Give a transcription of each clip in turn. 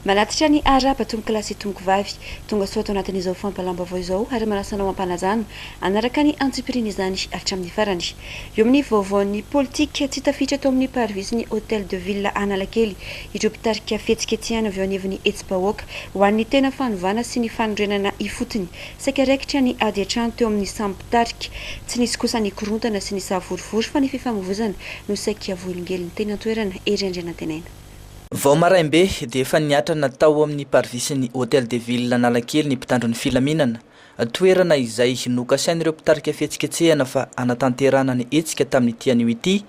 Manatitra ny Araba, tompokolahy sy tompokovavy, tonga soa ato anatin'izao fampalam-baovao izao ary manasa anao hampanajana hanaraka ny antsipirian'izany hatramin'ny farany. Eo amin'ny vaovaon'ny politika, tsy tafiditra tao amin'ny parivisin'ny Hôtel de Ville Analakely ireo mpitarika fihetsiketsehana avy eo anivon'ny hetsi-bahoaka ho an'ny tena fanovana sy ny fanorenana ifotony. Saika raikitra ny ady an-trano teo amin'ny samy mpitarika. Tsy nisy kosa ny korontana sy ny savorovoro fa ny fifamoivozana no saika voahelingelin'ny teny an-toerana, Hery Andrianantenaina. Vao maraim-be dia efa niatrana tao amin'ny Parvisin'ny Hôtel de Ville Analakely ny mpitandro ny filaminana, toerana izay nokasain'ireo mpitarika fihetsiketsehana fa hanatanterahana ny hetsika tamin'ity anio ity.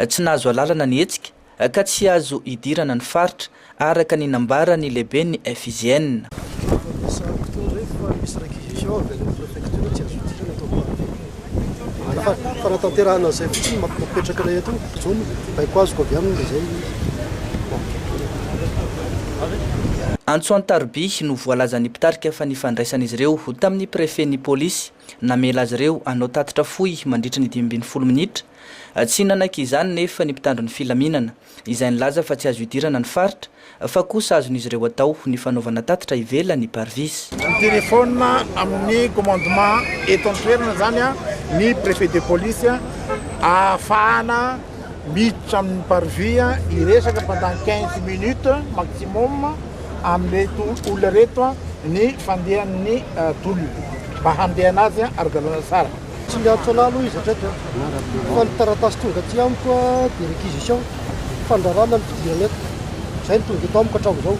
Tsy nahazo alalana ny hetsika ka tsy azo hidirana ny faritra, araka ny nambaran'ny lehiben'ny FIGN. Efa misy fotoana izay fa misy requisition avy any amin'ny préfecture hoe tsy azo hidirana ato amin'ny Parvis. Azafady, fanatanterahana izay fotsiny no mapetraka anay eto, zao no baiko azoko avy aminy dia izay no. Antso an-taroby no voalazan'ny mpitarika fa nifandraisan'izy ireo tamin'ny prefen'ny polisy namela azy ireo hanao tatitra fohy mandritra ny dimy ambin'ny folo minitra. Tsy nanaiky izany nefa ny mpitandro ny filaminana, izay nilaza fa tsy azo idirana ny faritra Fa kosa azon'izy ireo atao ny fanaovana tatitra ivelany, parvis. Mitelefona amin'ny commandement eto an-toerana izany ny prefet de police ahafahana miditra amin'ny parvis hiresaka pendant quinze minutes maximum amin'ireto olona ireto ny fandehan'ny tolona mba handehana azy ara-dalàna tsara. Tsy miantso anah aloha izy hatreto fa ny taratasy tonga aty amiko dia réquisition fandrarana ny fidirana eto, izay no tonga eto amiko hatramin'izao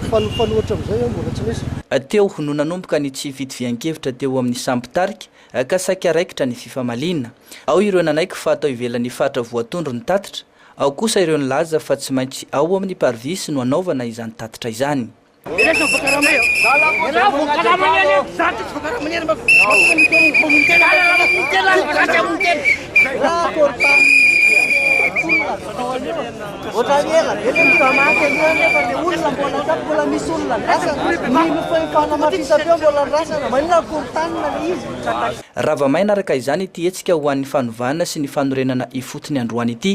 fa ny mifanohitra amin'izay mbola tsy nisy. Teo no nanomboka ny tsy fitovian-kevitra teo amin'ny samy mpitarika ka saika raikitra ny fifamaliana. Ao ireo nanaiky fa atao ivelan'ny faritra voatondro ny tatitra, ao kosa ireo nilaza fa tsy maintsy ao amin'ny Parvis no hanaovana izany tatitra izany. Rava-maina araka izany ity hetsika ho an'ny fanovana sy ny fanorenana ifotony androany ity.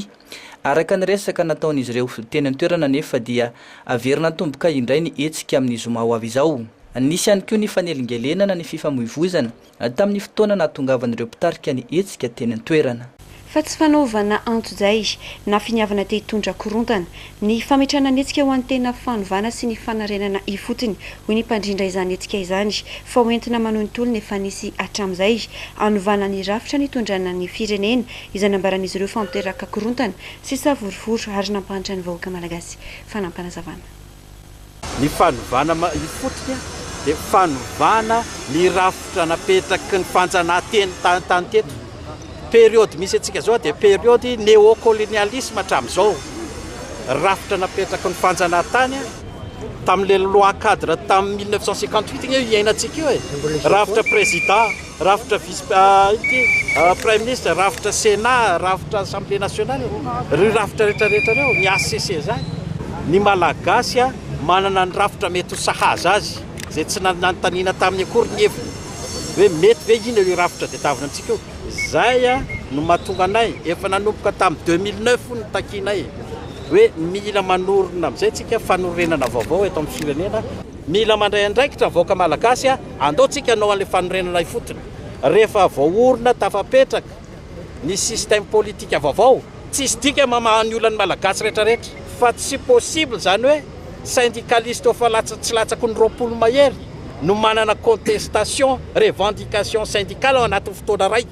Araka ny resaka nataon'izy ireo teny an-toerana anefa dia haverina hatomboka indray ny hetsika amin'ny zoma ho avy izao. Nisy ihany koa ny fanelingelenana ny fifamoivoizana tamin'ny fotoana nahatongavan'ireo mpitarika ny hetsika teny an-toerana. Fa tsy fanaovana antojay na finiavana te hitondra korontana ny fametrahana ny hetsika ho an'ny tena fanovana sy ny fanarenana ifotony, hoy ny mpandrindra izany hetsika izany, fa ho entina manohy ny tolona efa nisy hatramin'izay hanovana ny rafitra nitondrana ny firenena izay nambaran'izy ireo fa miteraka korontana sy savorovoro ary nampahantra ny vahoaka malagasy. Fanampinazavana. Ny fanovana ifotony dia fanovana ny rafitra napetraky ny fanjanahanteny tany teto. Periode misy antsika izao dia periode neokolonialisma hatramin'izao. Rafitra napetraky ny fanjanahantany tamin'ilay loi cadre tamin'ny mille neuf cent cinquante huit anie io iainantsika io e. Rafitra président. Rafitra vice ity Praiminisitra, rafitra Sénat, rafitra Assemblée nationale, ireo rafitra rehetra rehetra ireo, ny HCC izany. Ny Malagasy manana ny rafitra mety ho sahaza azy, izay tsy nanontaniana taminy akory ny heviny hoe mety ve inona io rafitra diedavina antsika io. Izay no mahatonga anay, efa nanomboka tamin'ny deux mille neuf hono ny takianay hoe mila manorina amin'izay isika fanorenana vaovao eto amin'ny firenena, mila mandray andraikitra ny vahoaka Malagasy. Andao tsika hanao an'ilay fanorenana ifotony. Rehefa voaorina tafapetraka ny système politique vaovao, tsisy dika mamaha ny olan'ny Malagasy rehetra rehetra. Fa tsy possible izany hoe syndicaliste efa latsa tsy latsaky ny roapolo mahery no manana contestation, revendication syndicale ao anatin'ny fotoana iray.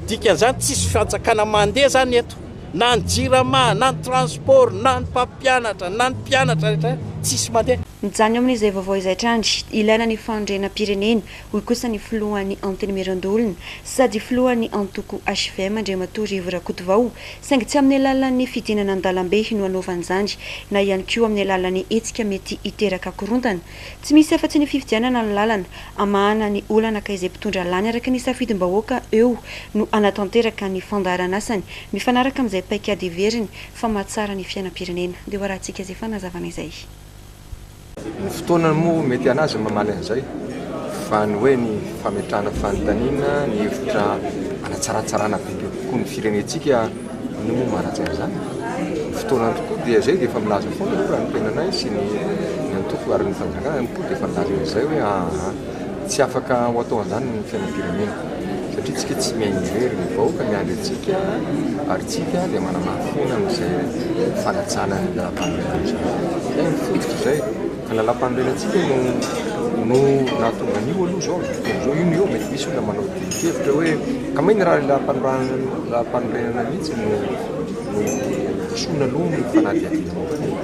Dikan'izany tsisy fanjakana mandeha izany eto. Na ny jirama, na ny transport, na ny mpampianatra, na ny mpianatra rehetra tsisy mandeha. Mijanona eo amin'izay vaovao izay hatrany, ilaina ny fanorenam-pirenena, hoy kosa ny filohan'ny Antenimierandoholona sady filohan'ny antoko hvm, Andriamatoa Rivo Rakotovao, saingy tsy amin'ny alalan'ny fidinana an-dalambe no hanaovany izany na ihany koa amin'ny alalan'ny hetsika mety hiteraka korontana. Tsy misy afa-tsy ny fifidianana no lalana hamahana ny olana ka izay mpitondra lany araka ny safidim-bahoaka eo no hanatanteraka ny fandaharanasany mifanaraka amin'izay paikady heveriny fa mahatsara ny fiainam-pirenena. Dia ho arahantsika izay fanazavana izay. Ny fotoana moa mety an'azy ny mamaly an'izay fa ny hoe ny fametrahana fanontaniana, ny hevitra hanatsaratsarana bebe kokoa ny firenentsika no manaja an'izany. Ny fotoana tokoa dia izay dia efa milaza foana aloha raha ny tenanay sy ny ny antoko ary ny fanjakana tokoa dia efa nilaza an'izay hoe ahaha. Tsy afaka ho atao an'izany ny fiainam-pirenena. satria tsika tsy mihaino irery ny vahoaka miandry antsika ary tsika dia manamafina amin'izay fanatsahana ny lalampanorenana izany dia ny fototra izay ka lalampanorenana tsika no no nahatonga an'io aloha izao izao io no eo mety misy olona manao dinkevitra hoe ka may ny raha lalampanorenana mihitsy no no diso aloha ny fanadihadiana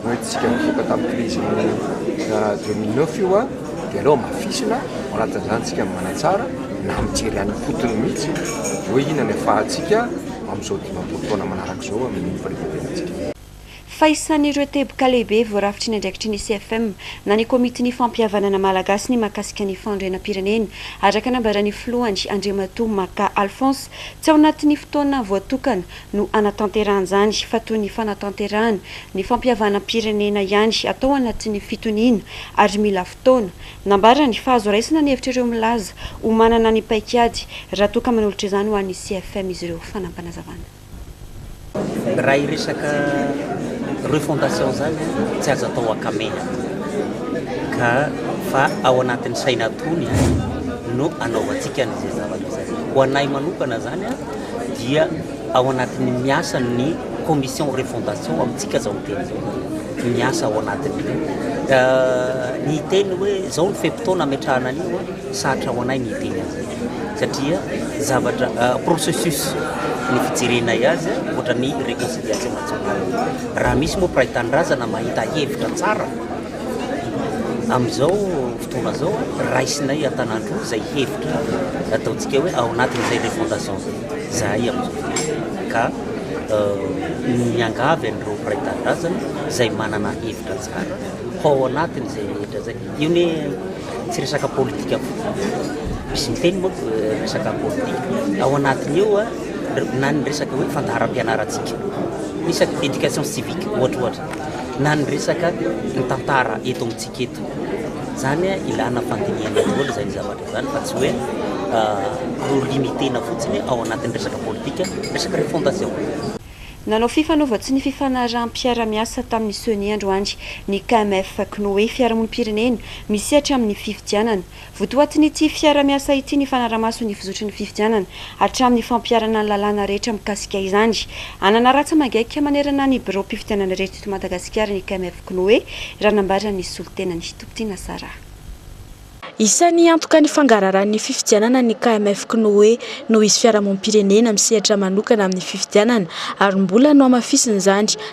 Ho entintsika mivoaka tamin'ny krizin'ny deux mille neuf io dia aleo hamafisina ao anatin'izany isika manatsara na mijery any am-potony mihitsy hoe inona ny afahantsika amin'izao dimampolo taona manaraka izao amin'ny fanetrantenantsika. Fa isan'ireo teboka lehibe voarafitry ny andraikitry ny CFM na ny Komitin'ny Fampihavanana Malagasy ny mahakasika ny fanorenam-pirenena, araka nambaran'ny filohany, Andriamatoa Maka Alphonse, tsy ao anatin'ny fotoana voatokana no hanatanterahany izany fa toy ny fanatanterahana ny fampihavanam-pirenena ihany atao anatin'ny fitoniana ary mila fotoana. Nambarany fa azo raisina ny hevitr'ireo milaza ho manana ny paikady raha toa ka manolotra izany ho an'ny CFM izy ireo. Fanampanazavana. Raha hiresaka refondation izany tsy azo atao ankamena ka fa ao anatin'ny saina tony no anaovantsika an'izay zavatra izay. Ho anay manokana izany. dia ao anatin'ny miasa ny commission refondation amintsika zao miteny zao zany miasa ao anatin'io ny hiteny hoe zao ny fe-potoana ametrahana an'io sarotra ho anay ny hiteny an'izay satria zavatra processus ny fijerenay azy ohatra ny réconciliation nationale raha misy moa mpiray tanindrazana mahita hevitra tsara Amin'izao fotoana izao, raisinay an-tanan-droa izay hevitra ataontsika hoe ao anatin'izay refondation izay, izahay amin'izao fotoana. Ka miangavy an'ireo mpiray tanindrazana izay manana hevitra tsara ho ao anatin'izay rehetra izay. Io ne tsy resaka politika fotsiny fa misy miteny moa resaka politika. Ao anatin'ny eo na ny resaka hoe fandaharam-pianarantsika, ny resaka éducation civique ohatra ohatra. na ny resaka ny tantara eto amintsika eto. Zany hoe ilana fandinihana daholo izany zavatra izany fa tsy hoe ho limiter-na fotsiny ao anatin'ny resaka politika, resaka refondation. Nanao fifanaovan-tso ny fifanaraham-piarahamiasa tamin'ny Ceni androany ny KMF, Cnoe, fiarahamonim-pirenena misehatra amin'ny fifidianana. Votoatin'ity fiara-miasa ity ny fanara-maso ny fizotry ny fifidianana hatramin'ny fampiharana ny lalàna rehetra mikasika izany. Hanana ratsa mangaika manerana ny biraom-pifidianana rehetra eto Madagasikara ny KMF K'noe, raha nambaran'ny solontenan'i Tompotena Sarah. Isan'ny hiantoka ny fangararan'ny fifidianana ny KMF K'noe noho izy fiarahamonim-pirenena misehatra manokana amin'ny fifidianana ary mbola nohamafisin'izany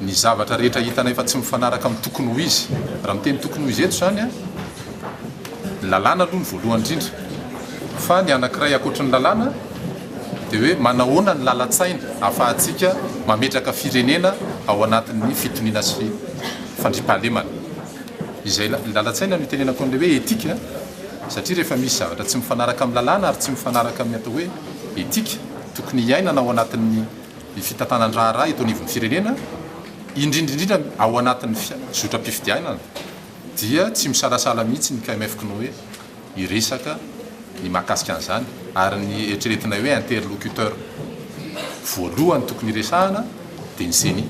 ny zavatra rehetra hitanay fa tsy mifanaraka amin'ny tokony ho izy, raha miteny tokony ho izy eto izany ny lalàna aloha ny voalohany indrindra, fa ny anankiray ankoatry ny lalàna dia hoe manahoana ny lalan-tsaina ahafahantsika mametraka firenena ao anatin'ny fitoniana sy fandriampahalemana, izay lalan-tsaina no itenenako an'ilay hoe etika satria rehefa misy zavatra tsy mifanaraka amin'ny lalàna ary tsy mifanaraka amin'ny atao hoe etika tokony hiainana ao anatin'ny ny fitantanan-draharaha eto anivon'ny firenena, indrindra indrindra ao anatin'ny zotram-pifidianana, dia tsy misalasala mihitsy ny KMF K'noe hiresaka ny mahakasika an'izany, ary ny eritreretinay hoe interlocuteur voalohany tokony hiresahana dia ny Ceni.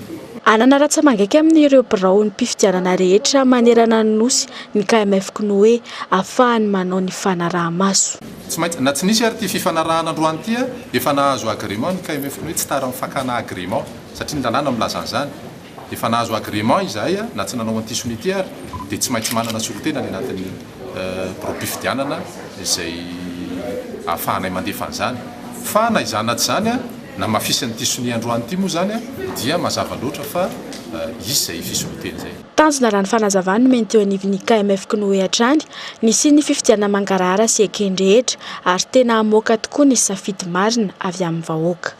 Hanana ratsa-mangaika amin'ireo biraom-pifidianana rehetra manerana ny Nosy ny KMF K'noe, hahafahany manao ny fanaraha-maso. Tsy maintsy, na tsy nisy ary ity fifanarahana androany ity, efa nahazo agrément ny KMF ny hoe tsy tara ny fakana agrément, satria ny lalàna milaza an'izany. Efa nahazo agrément izahay, na tsy nanao an'ity sonia ity ary, dia tsy maintsy manana solontena any anatin'ny biraom-pifidianana izay ahafahanay mandefa an'izany. Fa na izany na tsy izany, namafisin'ity sonia androany ity moa izany dia mazava loatra fa hisy izay fisolontena izay. Tanjona raha ny fanazavany nomeny teo anivon'ny KMF K'noe hatrany, ny hisian'ny fifidianana mangarahara sy ekeny rehetra ary tena hamoaka tokoa ny safidy marina avy amin'ny vahoaka.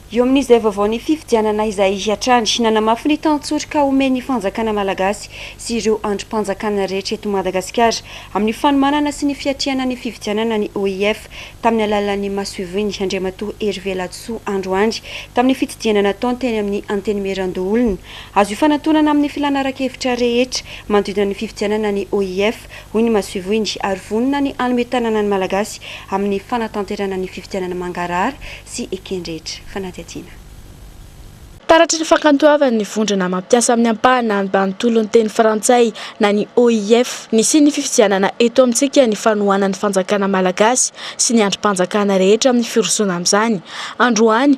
Eo amin'izay vaovaon'ny fifidianana izay hatrany, nanamafy ny tantsoroka omen'ny fanjakana malagasy sy ireo andrim-panjakana rehetra eto Madagasikara amin'ny fanomanana sy ny fiatrehana ny fifidianana ny OIF tamin'ny alalan'ny masoivoiny Andriamatoa Hervé Ladisoa androany tamin'ny fitdinana nataony teny amin'ny Antenimierandoholona Azo ifanatonana amin'ny filàna ara-kevitra rehetra manodidina ny fifidianana ny OIF, hoy ny masoivohony, ary vonona ny hanome tanana ny Malagasy amin'ny fanatanterahana ny fifidianana mangarahara sy eken-drehetra. Fanadihadiana. Taratry ny fakantoavan'ny vondrona mampiasa amin'ny ampahana ambanontolo ny teny frantsay na ny OIF, nisian'ny fifidianana eto amintsika ny fanohanan'ny fanjakana malagasy sy ny andrim-panjakana rehetra amin'ny firosoana amin'izany androany,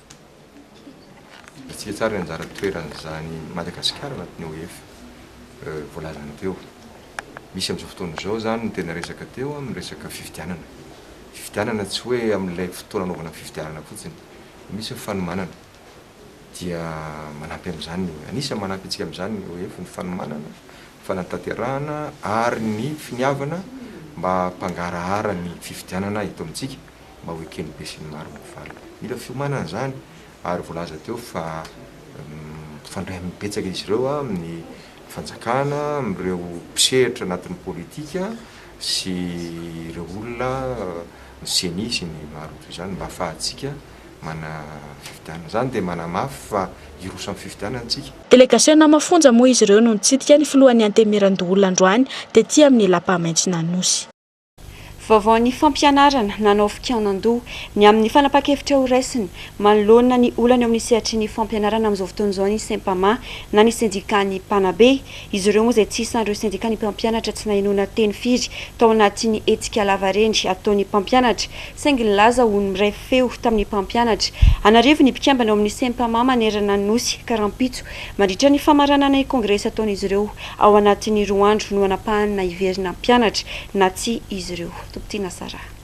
Hitantsika tsara ny anjara toeran'izany Madagasikara anatin'ny OIF voalazana teo. Misy amin'izao fotoana izao izany no tena resaka teo amin'ny resaka fifidianana. Fifidianana tsy hoe amin'ilay fotoana anaovana fifidianana fotsiny. Misy ny fanomanana, dia manampy amin'izany, anisan'ny manampy antsika amin'izany ny OIF, ny fanomanana, fanatanterahana ary ny finiavana mba hampangarahara ny fifidianana eto amintsika. mba ho eken'ny besinimaro ny valiny. Mila fiomanana izany ary voalaza teo fa mifandray amin'ny betsaka izy ireo amin'ny fanjakana, amin'ireo mpisehatra anatin'ny politika sy ireo olona, ny ceni sy ny maro toy izany mba hahafahantsika manana fifidianana. Izany dia manamafy fa hiroso amin'ny fifidianana isika. Delegasiona mafonja moa izy ireo no nitsidika ny filohan'ny Antenimierandoholona androany tety amin'ny Lapa Maitsonanosy. Vaovaon'ny fampianarana, nanao fikaonan-doha ny amin'ny fanapahan-kevitra horaisiny manoloana ny olana eo amin'ny sehatry ny fampianarana amin'izao fotoana izao ny Sempama na ny sendikan'ny mpanabe. Izy ireo moa izay tsy isan'ireo sendikan'ny mpampianatra tsy nahenoana teny firy tao anatin'ny hetsika lavareny ataon'ny mpampianatra saingy nilaza ho ny feo tamin'ny mpampianatra. An'arivony ny mpikambana ao amin'ny Sempama manerana ny Nosy ka rahampitso, mandritra ny famaranana ny kongresy ataon'izy ireo, ao anatin'ny roa andro no anapahany na hiverina hampianatra na tsia izy ireo. Tompon-tiana Sarah.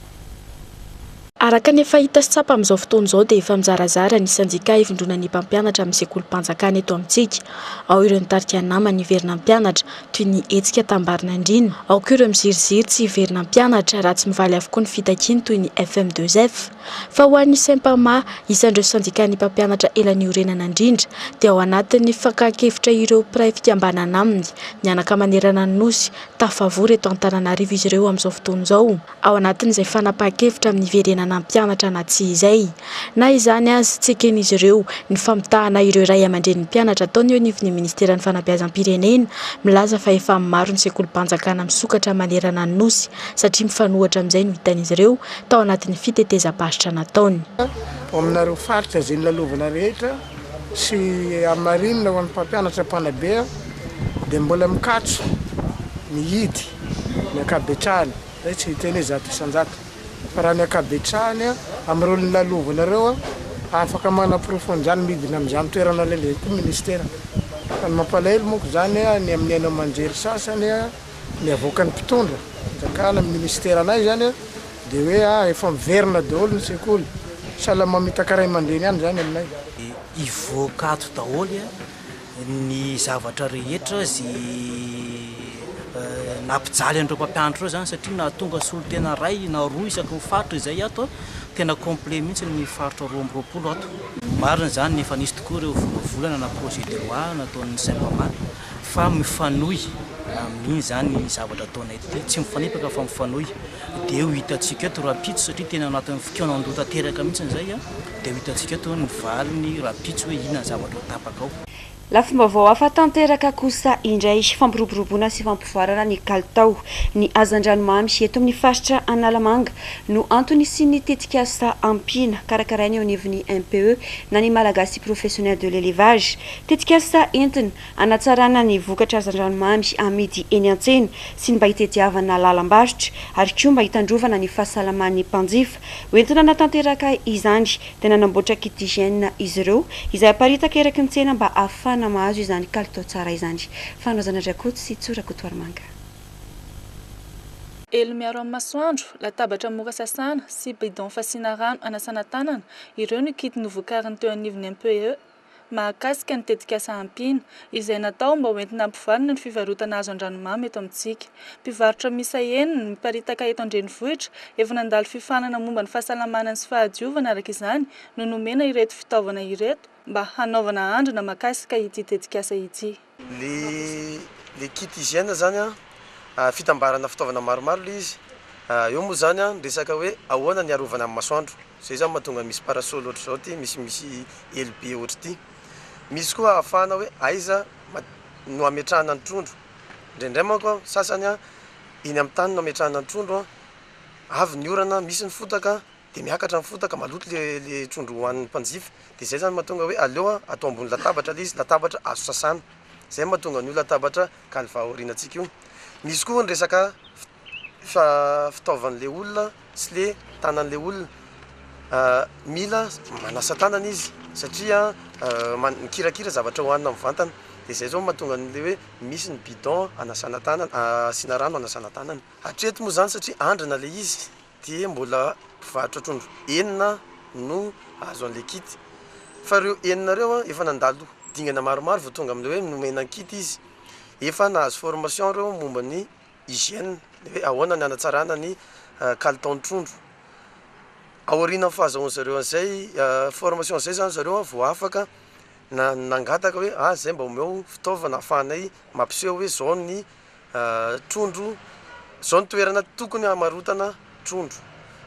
Araka ny efa hita sy tsapa amin'izao fotoana izao dia efa mizarazara ny sendika hivondronan'ny mpampianatra amin'ny sekolim-panjakana eto amintsika. Ao ireo nitarika ny namany hiverina hampianatra, toy ny hetsika tambarin'andriana. Ao koa ireo miziriziry tsy hiverina hampianatra raha tsy mivaly avokoa ny fitakiany toy ny FM2F. Fa ho an'ny Sempama, isan'ireo sendikàn'ny mpampianatra ela niorenana indrindra, dia ao anatin'ny fakan-kevitra ireo mpiray fikambanana aminy, mianaka manerana ny Nosy, tafavory eto Antananarivo izy ireo amin'izao fotoana izao. ao anatin'izay fanapahan-kevitra amin'ny hiverenana hampianatra na tsia izay. Na izany aza, tsy eken'izy ireo ny famitahana ireo ray aman-drenin'ny mpianatra ataony eo anivon'ny Ministeran'ny Fanabeazam-pirenena, milaza fa efa maro ny sekolim-panjakana misokatra manerana ny Nosy satria mifanohitra amin'izay no hitan'izy ireo tao anatin'ny fitetezam-paritra nataony. Ho aminareo faritra izay nilalovana rehetra sy hamarinina ho an'ny mpampianatra mpanabe aho dia mbola mikatso mihidy. ny ankabetrahany, zay tsy hiteny hoe zato isan-jato, fa raha ny ankabetrahany amin'ireo nolalovina ireo afaka manaporofo an'izany midina amin'izany toerana lehibe koa ministera, fa ny mampalahelo monko zany ny amin'ny haino aman-jery sasany ny avoakan'ny mpitondra fanjakana amin'ny ministeranay zany dia hoe ah efa miverina daholo ny sekoly, sahala mamitaka ray aman-dreny ihany zany aminay. Dia hivoaka ato daholo an! ny zavatra rehetra ze nampijaly an'ireo mpampianatra ireo zany satria nahatonga solontena iray na roa isaky ny faritra izay ato a, tena complet mihitsy ny faritra roa amby roapolo ato. Marina izany, efa nisy tokoa ireo volavolana na projet de loi nataon'ny Sympama fa mifanohy amin'iny izany ny zavatra ataonay ity, tsy mifanipaka fa mifanohy, dia io hitantsika eto rahampitso satria tena anatin'ny fikaonan-doha tanteraka mihitsy izay a. Dia ho hitantsika eto ny valiny rahampitso hoe inona ny zavatra ho tapaka ao. Lafim-baovao hafa tanteraka kosa indray, fampiroboroboana sy fampivoarana ny kalitao ny hazandranomamy eto amin'ny faritra Analamanga no antony hisian'ny tetikasa Ampiana karakaraina eo anivon'ny MPE na ny Malagasy Professionnel de l'Elevage. Tetikasa entina hanatsarana ny vokatra hazandranomamy amidy eny an-tsena sy ny mba hitediavana lalam-barotra ary koa mba hitandrovana ny fahasalaman'ny mpanjifa. Ho entina hanatanteraka izany dia nanamboatra kit d'hygiène izy ireo izay aparitaka eraky ny tsena mba hahafahana mahazo izany kalitao tsara izany. Fanohazana Drakoto sy Tso Rakotoarimanga. Elo miaro amin'ny masoandro, latabatra mora sasana sy bidon fasiana rano anasana tanana, ireo ny kit novokariny teo anivon'ny MPE. mahakasika ny tetikasa Ampiana, izay natao mba hoentina hampivalina ny fivarotana hazo an-dranomamy eto amintsika. Mpivarotra miisa enina, miparitaka eto an-drenivohitra, efa nandalo fifanana momba ny fahasalamana sy fahadiovana araka izany, no nomena ireto fitaovana ireto mba hanaovana andrana mahakasika ity tetikasa ity. Le le kit hygiène zany a, fitambarana fitaovana maromaro le izy, eo moa zany a ny resaka hoe ahoana ny arovana amin'ny masoandro, zay zany mahatonga misy parasol ohatr'izao ity misy misy elo be ohatr'ity, misy koa ahafahana hoe aiza no ametrahana ny trondro, indraindray manko a sasany a eny amin'ny tany no ametrahana ny trondro a, avy ny orana misy ny fotaka. Dia miakatra ny fotaka, maloto le le trondro hohanin'ny mpanjifa, dia zay zany mahatonga hoe aleo a atao ambony latabatra le izy, latabatra azo sasana, zay mahatonga an'io latabatra kalva aorianantsika io. Misy koa ny resaka fa fitaovan'le olona sy le tanan'le olona, mila manasa tanana izy satria man- mikirakira zavatra hohanina mivantana, de zay zao mahatonga an'le hoe misy ny bidon anasana tanana asiana rano anasana tanana, hatreto moa zany satria andrana le izy. dia mbola mpivarotra trondro enina no azo an'ilay kit fa ireo enina ireo an efa nandalo dingana maromaro vao tonga amin'ilay hoe nomena ny kit izy, efa nahazo formation ireo momba ny hygiène, ny hoe ahoana ny hanatsarana ny kalitaon'ny trondro, aorianan'ny fahazahoan'ny zareo an'izay formation izay izany zareo an vao afaka nangataka hoe ah zay mba omeo fitaovana ahafahanay mampiseho hoe izao ny. trondro zao ny toerana tokony hamarotana trondro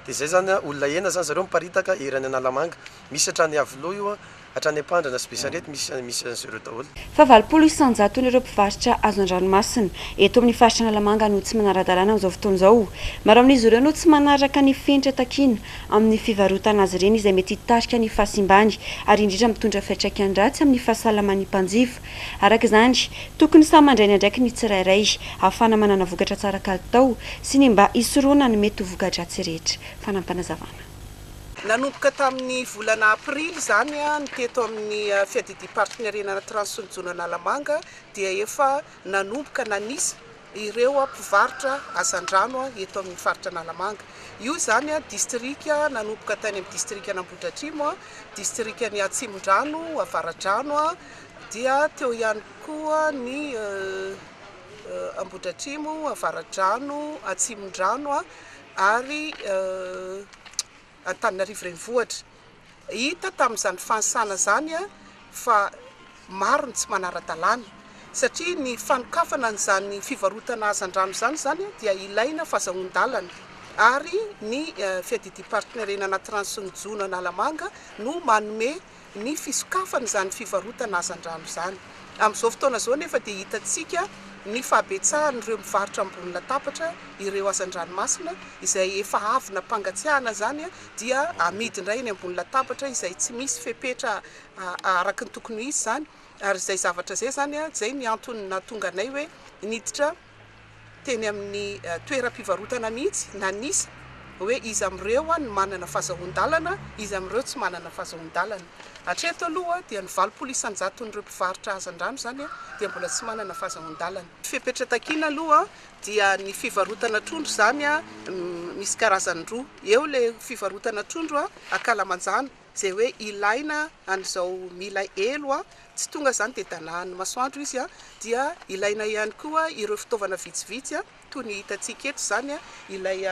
de zay zany a olona enina zany zareo miparitaka ery any analamanga misy hatrany iavoloha io a hatrany ampandrana sy besarety misy misy an'izy ireo daholo. Fa valopolo isanjaton'ireo mpivarotra hazo an-dranomasina eto amin'ny faritra Analamanga no tsy manara-dalàna amin'izao fotoana izao. Maro amin'izy ireo no tsy manaraka ny fenitra takiana amin'ny fivarotana azy ireny izay mety hitarika ny fahasimbany ary indrindra mitondra fiantraikany ratsy amin'ny fahasalaman'ny mpanjifa Araka izany, tokony samy mandray ny andraikiny ny tsirairay, ahafahana manana vokatra tsara kalitao sy ny mba hisorohana ny mety ho voka-dratsy rehetra. Fanampinazavana. Nanomboka tamin'ny volana aprily izany ny teto amin'ny Fiadidiam-pari-pinerena Anatiranosy sy ny Jono Analamanga dia efa nanomboka nanisa ireo mpivarotra hazandrano eto amin'ny faritra Analamanga. Io izany distrika nanomboka tany amin'ny distrikan'Ambohidratrimo, distrikan'ny Atsimondrano, Avaradrano dia teo ihany koa ny Ambohidratrimo, Avaradrano, Atsimondrano ary Antananarivo Renivohitra. Hita tamin'izany fanisana izany fa maro ny tsy manara-dalàna satria ny fanokafana an'izany fivarotana hazandrano izany izany dia ilaina fazahoan-dalana ary ny Fiadidiam-paritenerena Anatiranosy ny Jono Analamanga no manome ny fisokafana izany fivarotana hazandrano izany. Amin'izao fotoana izao anefa dia hitantsika ny fahabetsahan'ireo mivarotra ambony latabatra ireo hazandranomasina izay efa avy nampangatsiahana izany dia amidy indray eny ambony latabatra izay tsy misy fepetra araka ny tokony ho izy izany ary izay zavatra izay izany izay ny antony nahatonga anay hoe niditra teny amin'ny toeram-pivarotana mihitsy nanisa hoe iza amin'ireo no manana fahazahoan-dalana, iza amin'ireo tsy manana fahazahoan-dalana. Hatreto aloha dia ny valopolo isan-jaton'ireo mpivarotra hazandrano izany dia mbola tsy manana fahazahoan-dalana. Ny fepetra takiana aloha dia ny fivarotana trondro izany misy karazany roa, eo ilay fivarotana trondro akalamanjana, Ze hoe ilaina an'izao mila elo a, tsy tonga zany de danahan'ny masoandro izy a, dia ilaina ihany koa ireo fitaovana vitsivitsy a, toy ny hitantsika eto izany a, ilay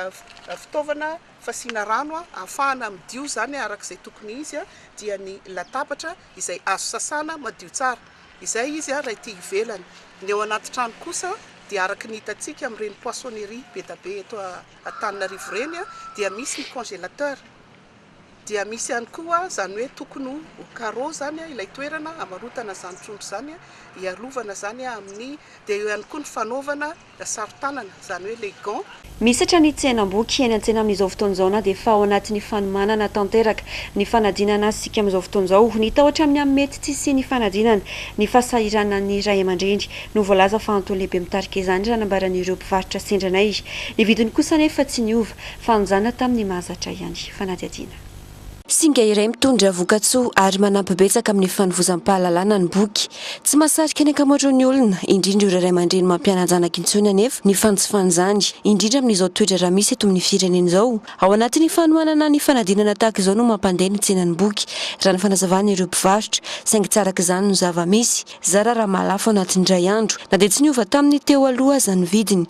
fitaovana fasiana rano a, ahafahana midio izany a, araka izay tokony izy a, dia ny latabatra izay azo sasana madio tsara. Izay izy a, raha ety ivelany. Ny ao anaty trano kosa dia araka ny hitantsika amin'ireny poissonnerie be da be eto Antananarivo ireny a, dia misy ny congélateur. Dia misy ihany koa izany hoe tokony ho ho carreau izany ilay toerana hamarotana izany trondro izany, hiarovana izany amin'ny, dia eo ihany koa ny fanaovana saron-tanana izany hoe les gants. Misatra ny tsenam-boky eny an-tsena amin'izao fotoana izao na dia efa ao anatin'ny fanomanana tanteraka ny fanadinana azy isika amin'izao fotoana izao. Ny tahotra amin'ny amin'ny mety tsy hisian'ny fanadinana, ny fahasahiranan'ny ray aman-dreny no voalaza fa antony lehibe mitarika izany raha nambaran'ireo mpivarotra sendra anay. Ny vidiny kosa anefa tsy niova. Fahanjana tamin'ny mahazatra ihany. Fanadihadiana. Singa iray mitondra vokatsoa ary manampy betsaka amin'ny fanovozam-pahalalana ny boky. Tsy mahasarika ny ankamaroan'ny olona, indrindra ireo ray aman-dreny mampiana-janaka intsony anefa ny fanjifan'izany, indrindra amin'izao toe-draharaha misy eto amin'ny firenena izao. Ao anatin'ny fanohanana ny fanadinana tahaka izao no mampandeha ny tsenan'ny boky, raha ny fanazavan'ireo mpivarotra, saingy tsy araka izany no zava-misy. Zara raha mahalafo anatin'ny iray andro, na dia tsy niova tamin'ny teo aloha aza ny vidiny.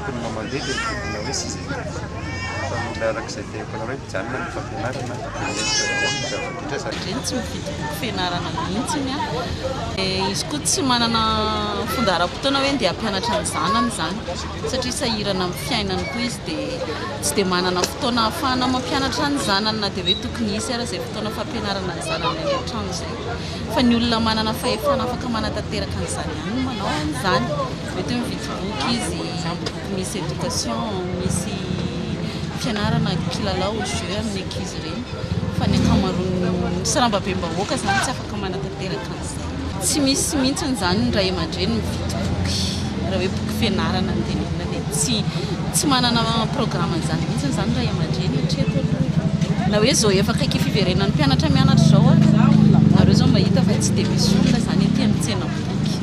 Mponina mandeha dia mitombina hoe sisa kely koa fa mila araka izay te hampanaovana hoe mijanona ny fampianarana dia mendrika daholo ny zava-bitra satria. Reny tsy mifidy boky fianarana mihitsiny an! Dia izy koa tsy manana fundaharam-potoana hoe ndeha hampianatra ny zanany izany satria sahirana amin'ny fiainany koa izy dia tsy dia manana fotoana ahafahana mampianatra ny zanany na dia hoe tokony hisy ara izay fotoana fampianarana ny zanany any an-trano izay fa ny olona manana fahefana afaka manatanteraka an'izany ihany no manao an'izany. Mety hoe mividy boky izy, boky misy éducation, misy fianarana, kilalao, jeux amin'ny ankizy ireny. Fa ny ankamaroan'ny, sy rambabem-bahoaka izany tsy afaka manatanteraka an'izany. Tsy misy mihitsy izany ny ray aman-dreny mividy boky. Raha hoe boky fianarana ny tenenina dia tsy, tsy manana programme an'izany mihitsy izany ny ray aman-dreny hatreto aloha e. Na hoe izao efa akaiky fiverenan'ny mpianatra mianatra izao ary, nareo izao mahita fa tsy dia misy olona izany aty amin'ny tsenam-boky.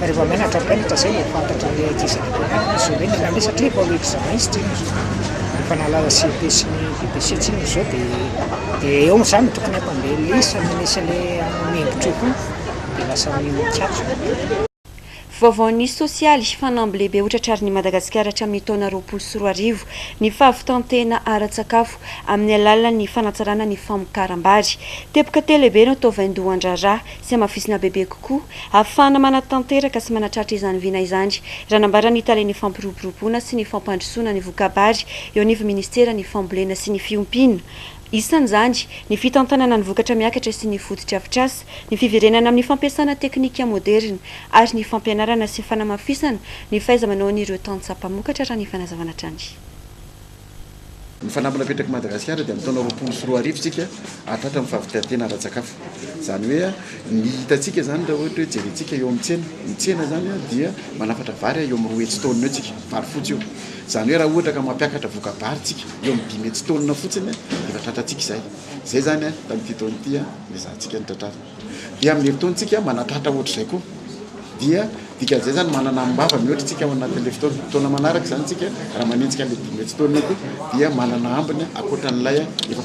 Rehefa menatra mpianatra zay vao fantatra ny ady izany mpianarana zao hoe nanao an'io satria vao examen izy tsinona zao. Efa nahalala CEP sy ny VBC tsinona zao de de eo am'zany ny tokony atao de lisa no misy le miembotry io koa de lasa mikatso. Vaovaon'ny sosialy, Fanamby lehibe ho tratrarin'i Madagasikara hatramin'ny taona roapolo sy roa arivo ny fahavitan-tena ara-tsakafo amin'ny alalan'ny fanatsarana ny famokaram-bary. Teboka telo lehibe no atao vaindohan-draharaha sy hamafisina bebe kokoa ahafahana manatanteraka sy manatratra izany vina izany, raha nambaran' ny Tale ny fampiroboroboana sy ny fampandrosoana ny voka-bary eo anivo ministera ny fambolena sy ny fiompiana, isan' izany ny fitantanana ny vokatra miakatra sy ny fotodrafitrasa, ny fiverenana amin' ny fampiasana teknika moderina ary ny fampianarana sy fanamafisana ny fahaiza-manaon' ireo tantsaha mpamokatra, raha ny fanazavana hatrany. Ny fanamby napetrak'i Madagasikara dia amin'ny taona roapolo sy roa arivo isika ary tratra ny fahavitan-tena ara-tsakafo. Izany hoe ny hitantsika izany raha ohatra hoe jerentsika eo amin'ny tsena, ny tsena izany dia manafatra vary eo amin'ny roa hetsy taonina eo isika, vary fotsy io. Izany hoe raha ohatra ka mampiakatra voka-bary isika eo amin'ny dimy hetsy taonina fotsiny dia efa tratrantsika izay. Izay izany tamin'ity taona ity no ezahantsika ny tratrarina. Dia amin'izay fotoantsika manatratra ohatr'izay koa dia dikan'izay izany manana am-bava mihoatra isika ao anatin'ilay fotoana. Taona manaraka izany isika raha manenjika an'ilay dimy hetsy taonina koa dia manana ambiny ankoatra an'ilay efa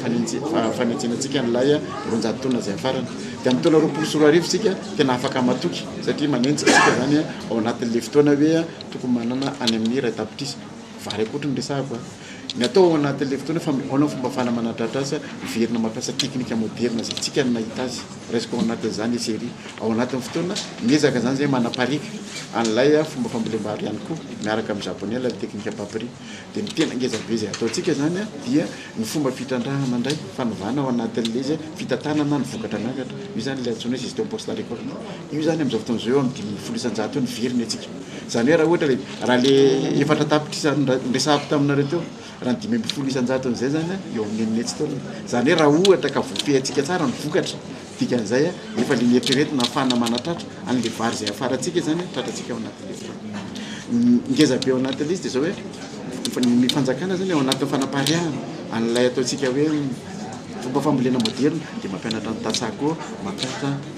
fanenjena antsika an'ilay roanjato taonina izay hafarana. Dia amin'ny taona roapolo sy roa arivo isika tena afaka matoky satria manenjika isika izany ao anatin'ilay fotoana hoe tokony manana any amin'ny iray tapitrisa vary akory no resahako a! Ny atao ao anatin'ilay fotoana efa mihaona ny fomba fanahy manadratra asa, miverina mampiasa teknika moderina izay tsika no nahita azy. Raisiko ao anatin'izany i Seri. Ao anatin'ny fotoana, miezaka izany izahay manapariaka an'ilay fomba fambolem-bary ihany koa, miaraka amin'ny Japoney, ilay teknika Papri. Dia ny tena ngeza be izay ataontsika izany dia ny fomba fitrandrahana indray, fanovana ao anatin'ilay izy, fitantanana ny vokatra miakatra. Io izany ilay antsoina hoe gestion post-récolte. Io izany amin'izao fotoana izao eo amin'ny dimy ambin'ny folo isan-jato eo ny very ny antsika. Izany hoe raha ohatra ilay. Raha le efatra tapitrisa niresahako taminareo teo, raha ny dimy ambin'ny folo isan-jatony izay zany eo amin'ny enin'hetsy taona. Izany hoe raha ohatra ka voafehintsika tsara ny vokatra, dikan'izay efa le nieritreretina hahafahana manatratra an'le vary izay hafarantsika izany tratratsika ao anaty lesy. Ny ngeza be ao anaty lesy dia izao hoe ny fanjakana zany ao anatin'ny fanapariahana an'ilay ataontsika hoe fomba fambolena moderina dia mampianatra ny tantsaha koa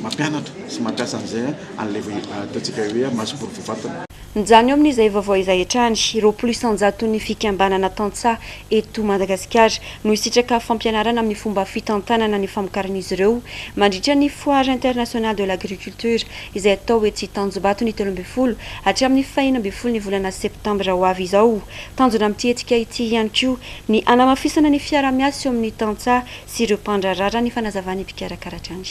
mampianatra sy mampiasa an'izay an'ilay ataontsika hoe masoboro voafantina. Mijanona eo amin'izay vaovao izay hatrany, roapolo isan-jaton'ny fikambanana tantsaha eto Madagasikara no hisitraka fampianarana amin'ny fomba fitantanana ny famokaran'izy ireo mandritra ny Foire Internationale de l'Agriculture izay atao etsy Tanjombato ny telo ambin'ny folo hatramin'ny fahenina ambin'ny folo ny volana septambra ho avy izao. Tanjona amin'ity hetsika ity ihany koa ny hanamafisana ny fiarahamiasa eo amin'ny tantsaha sy ireo mpandraharaha raha ny fanazavan'ny mpikarakara hatrany.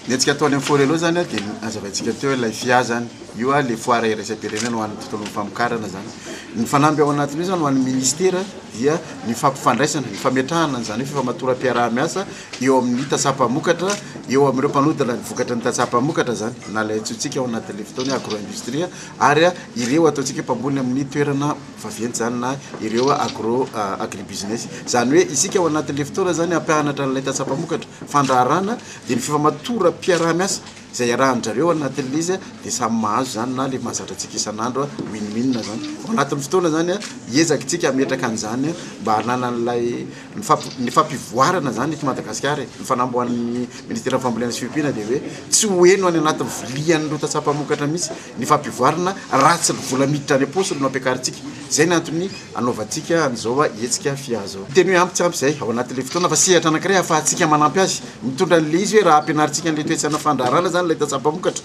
Ny hetsika atao any amin'ny Forello izany dia nazavaintsika teo ilay fia izany. Io ilay foara iraisam-pirenena ho an'ny tontolon'ny famokarana izany. Ny fanamby ao anatin'io izany ho an'ny minisitera dia ny fampifandraisana, ny fametrahana an'izany hoe fifamatoram-piaraha-miasa eo amin'ny tantsaha mpamokatra, eo amin'ireo mpanodina ny vokatry ny tantsaha mpamokatra izany na ilay antsointsika ao anatin'ilay fotoana hoe agro-industrie ary ireo ataontsika hoe mpamboly amin'ny toerana Fa venty izany na ireo agro agribusiness. Izany hoe isika ao anatin'ilay fotoana izany hampianatra an'ilay tantsaha mpamokatra fandraharahana dia ny fifamatoram-piaraha-miasa izay iarahan-dry zareo anatin'ilay izy dia samy mahazo izany na ilay mahazatra antsika isan'andro win-win izany. Ao anatin'ny fotoana izany hiezaka isika hametraka an'izany mba hananan'ilay Ny fampivoarana izany eto Madagasikara e, ny fanamboahan'ny ministeran'ny fambolena sy fiompiana dia hoe tsy ho heno any anatin'ny vilian'ireo tantsaha mpamokatra mihitsy ny fampivoarana raha tsy ny vola miditra any am-paosiny no ampiakarintsika. Izay no antony hanaovantsika an'izao hetsika fia izao. Teny hoe ampy tsy ampy izay ao anatin'ilay fotoana fa sehatra anankiray ahafahantsika manampy azy. Mitondra an'ilay izy hoe raha ampianarintsika an'ilay toe-tsaina fandraharana izany ilay tantsaha mpamokatra,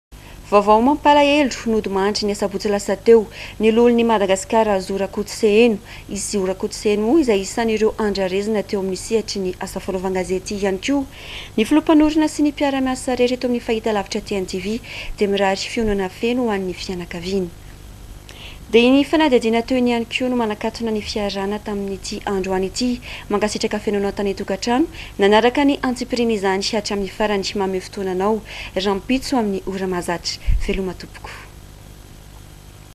Vaovao mampalahelo, nody mandry ny asabotsy lasa teo, ny loholon'i Madagasikara Zo Rakotoseheno. I Zo Rakotoseheno moa izay isan'ireo andrarezina teo amin'ny sehatry ny asa fanaovan-gazety ihany koa. Ny filoha mpanorina sy ny mpiara-miasa rehetra eto amin'ny fahitalavitra TNTV dia mirary fionona feno ho an'ny fianakaviany. Dia ny fanadihadiana toy ny ihany koa no manakatona ny fiarahana tamin'ity androany ity. Mankasitraka feno anao tany tokantrano nanaraka ny antsipirian'izany hatramin'ny farany. Mamehy fotoana anao rahampitso amin'ny ora mahazatra. Veloma tompoko.